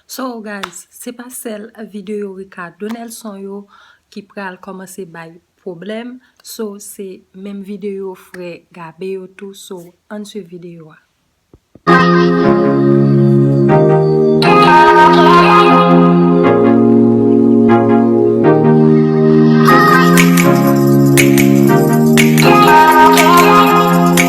So guys se pa sèl video Ricardo Nelson yo ki pral kòmanse bay pwoblèm so se menm video frè Gabe yo tou so ann swiv video a.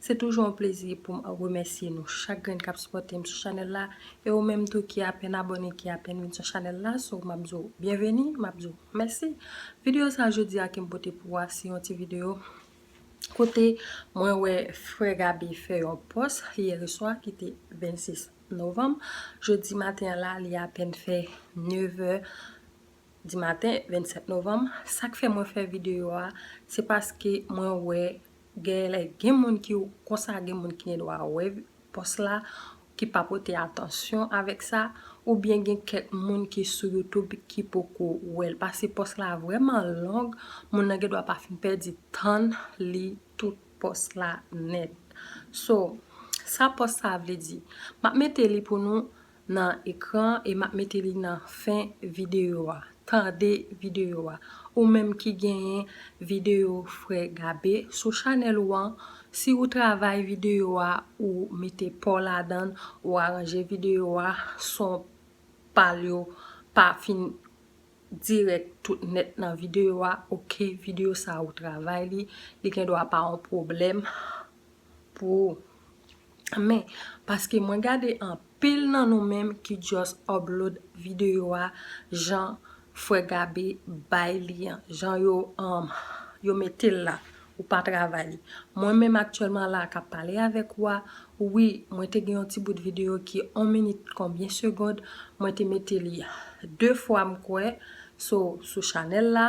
Se toujou yon plezi pou m remèsye nou chak grenn k ap sipòte m sou chanèl la e ou menm tou ki apèn abòne ki apèn vin sou chanèl la so m ap di w byenveni m ap di w mèsi Videyo sa jodi a ke m pote pou ou a se yon ti videyo kote mwen wè frè Gabe fè yon pòs yèreswa ki te 26 novanm jodi maten an la li apèn fè 9 è Di maten 27 novanm, sak fè mwen fè video a se paske mwen wè genlè gen moun ki konsa gen moun ki gen dwa wè pòs la ki pa pote atansyon avèk sa ou byen gen kèk moun ki sou youtube ki poko wèl pase pòs la vrèman long moun nan gen dwa pa fin pèdi tann li tout pòs la nèt so sa pòs sa vle di map mete li pou nou nan ekran e map mete li nan fen video a tande video a ou menm ki genyen video frè Gabe sou chanèl ou an si ou travay video a ou mete paw ladann ou aranje video a son pal yo pa fin dirèk tout nèt nan video a ok video sa ou travay li li gendwa pa yon pwoblèm pou ou. Men, paske mwen gade anpil nan nou menm ki just upload video a jan frè Gabe bay li an, jan yo um yo mete l la, ou pa travay li. Mwen menm aktyèlman la a k ap pale avèk ou a, wi, mwen te gen yon ti bout video ki 1 minit konbyen segond, mwen te mete li 2 fwa m kwè, so sou chanèl la.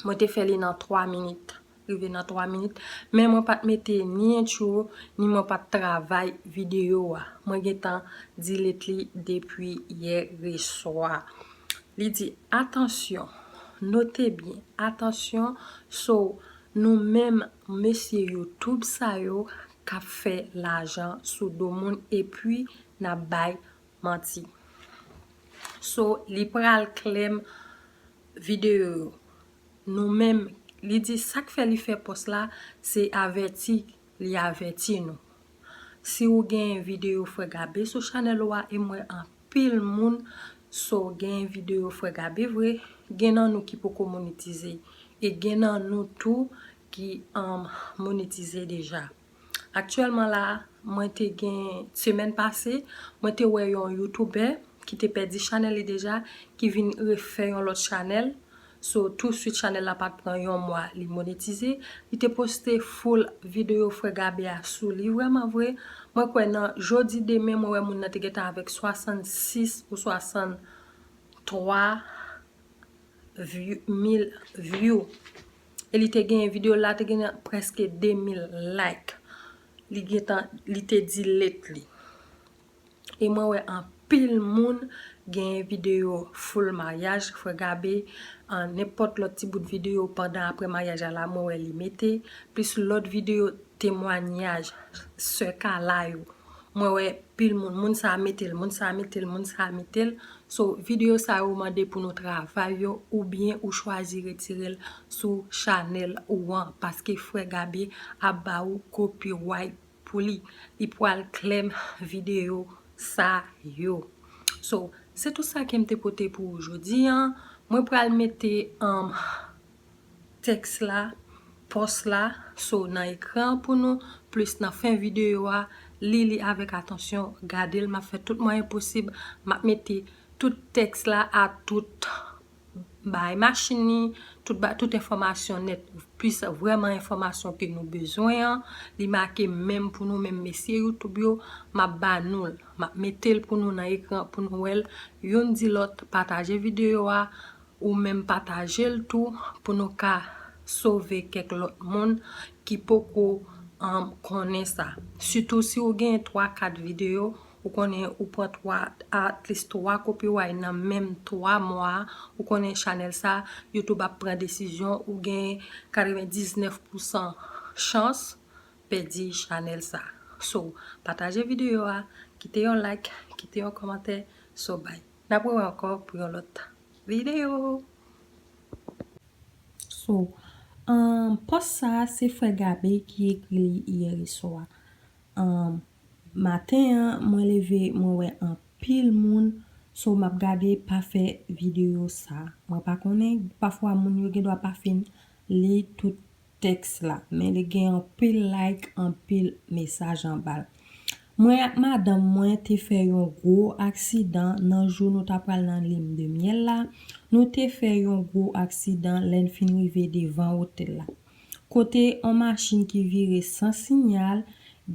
Mwen te fè li nan 3 minit. Rive nan 3 minit. Men mwen pat mete ni intro, ni mwen pat travay video a. Mwen gentan delete li depi yè reswa. Li di, atansyon, note byen, atansyon, so nou menm mesye youtube sa yo kap fè lajan sou do moun epi nap bay manti. So li pral klèm. video yo nou menm li di sak fè li fè pòs la se avèti li avèti nou si ou genyen video frè gabe sou chanèl ou a e m wè anpil moun so genyen video frè gabe vre gen nan nou ki poko monetize e gen nan nou tou ki monetize deja. Aktyèlman la a, mwen te gen, semèn pase, mwen te wè yon youtubè ki te pèdi chanèl li deja, ki vin refè yon lòt chanèl, so tou swit chanèl la pat pran yon mwa li monetize, li te poste full videyo frè Gabe a sou li, vrèman vre, mwen kwè nan jodi demen mwen wè moun nan te gentan avèk 66 ou 63 mil view. e li te genyen video la te genyen preske 2000 like li gentan li te di let li e mwen wè anpil moun genyen video full maryaj frè gabe an nenpòt lòt ti bout video pandan aprè maryaj a la mwen wè li mete plis lòt video temwanyaj sè kala yo. Mwen wè pil moun, moun sa a mete l, moun sa a mete l, moun sa a mete l. So, videyo sa yo mande pou nou travay yo oubyen ou chwazi retire l sou chanèl ou an paske frè Gabe ap ba ou copyright pou li. Li pwal claim videyo sa yo. So, se tout sa ke m te pote pou ou jodi an. Mwen pral mete. tèks la, pòs la, so nan ekran an pou nou, plis nan fen videyo a, li li avèk atansyon, gade l, m ap fè tout mwayen posib, m ap mete tout tèks la a tout bay machin ni, tout bay tout enfòmasyon nèt, plis vrèman enfòmasyon ke nou bezwen an, li make menm pou nou menm mesye youtube yo, m ap ba nou l, m ap mete l pou nou nan ekran pou nou wè l, youn di lòt pataje videyo a, Ou menm patajel tou pou nou ka sove kèk lòt moun ki poko konnen sa. Sitou si ou gen 3 4 video ou konnen ou pran 3 at least 3 copyright nan menm 3 mwa ou konnen chanèl sa youtube ap pran desizyon ou gen 99 pousan chans pèdi chanèl sa. So pataje video a kite yon like kite yon kòmantè so bye. N ap wew anko pou yon lot video. So um post sa se frè Gabe ki ekri li yèreswa um maten an mwen leve mwen wè anpil moun so map gade pa fè video sa mwen pa konnen pafwa moun yo gendwa pa fin li tout tèks la men li gen anpil like anpil mesaj anbal. Mwen ak madanm mwen te fè yon gwo aksidan nan jou nou ta pral nan lim de myèl la, nou te fè yon gwo aksidan lè n fin rive devan otèl la. Kote on machin ki vire san sinyal,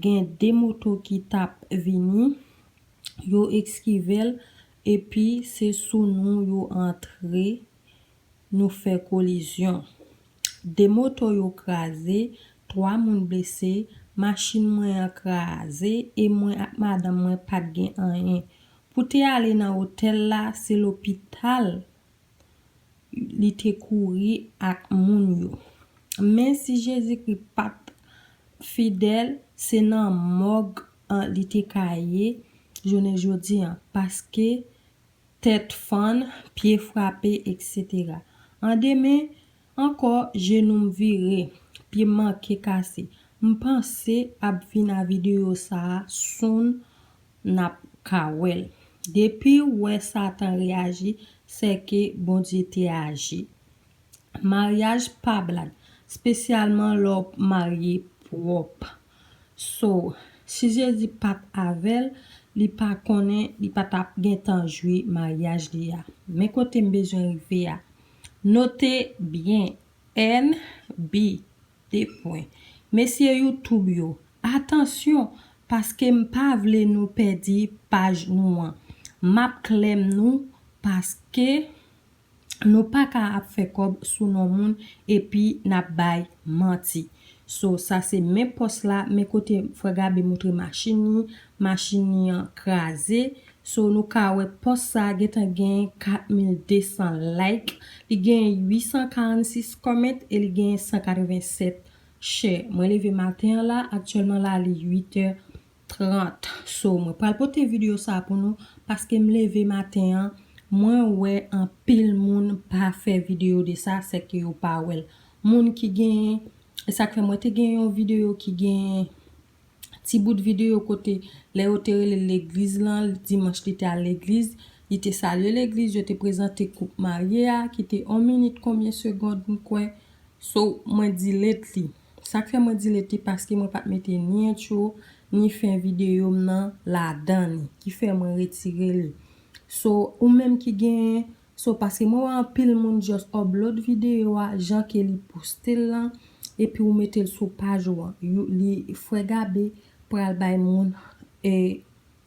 gen 2 moto ki tap vini, yo eskive l epi se sou nou yo antre. nou fè kolizyon. 2 moto yo kraze, 3 moun blese, machin mwen an kraze e mwen ak madanm mwen pa t gen anyen. Pou te ale nan otèl la, se lopital li te kouri ak moun yo. Men si Jezikri pa t fidèl, se nan mòg li te ka ye jounen jodi an paske tèt fann, pye frape etc. An demen ankò jenou m vire, pye m manke kase. M panse ap vin a video sa a soon nap ka wè l. Depiw wè satan reyaji sèke Bondye te aji. Maryaj pa blag, spesyalman lè w marye pwòp. So, si Jezi pa t avè l, li pa konnen li pa t ap gentan jwi maryaj li a. Men kote m bezwen rive a. Note byen, NB, 2 pwen. Mesye YouTube yo, atansyon, paske m pa vle nou pèdi paj nou an. M ap klè m nou paske. Nou paka ap fè kòb sou non moun epi nap bay manti. So sa se men pòs la men kote frè Gabe moutre machin li, machin li an kraze. So nou ka wè pòs sa gentan gen 4200 like, li gen 846 comment e li gen 187 share. Mwen leve maten an la, aktyèlman la li 8 è 30 so mwen pral pote video sa pou nou paske m leve maten an mwen wè anpil moun pa fè video de sa sèke yo pa wèl moun ki gen esak fè mwen te gen yon video ki gen ti bout video kote lè yo te relel legliz lan dimanch li te al legliz li te salye legliz yo te prezante koup marye a ki te 1 minit konbyen segond m kwè so mwen delete li. Sak fè mwen delete li paske mwen pat mete ni intro ni fen video m nan ladan li ki fè mwen retire li so ou menm ki gen so paske mwen wè anpil moun just upload video a jan ke li poste l lan epi ou mete l sou paj ou an li frè Gabe pral bay moun e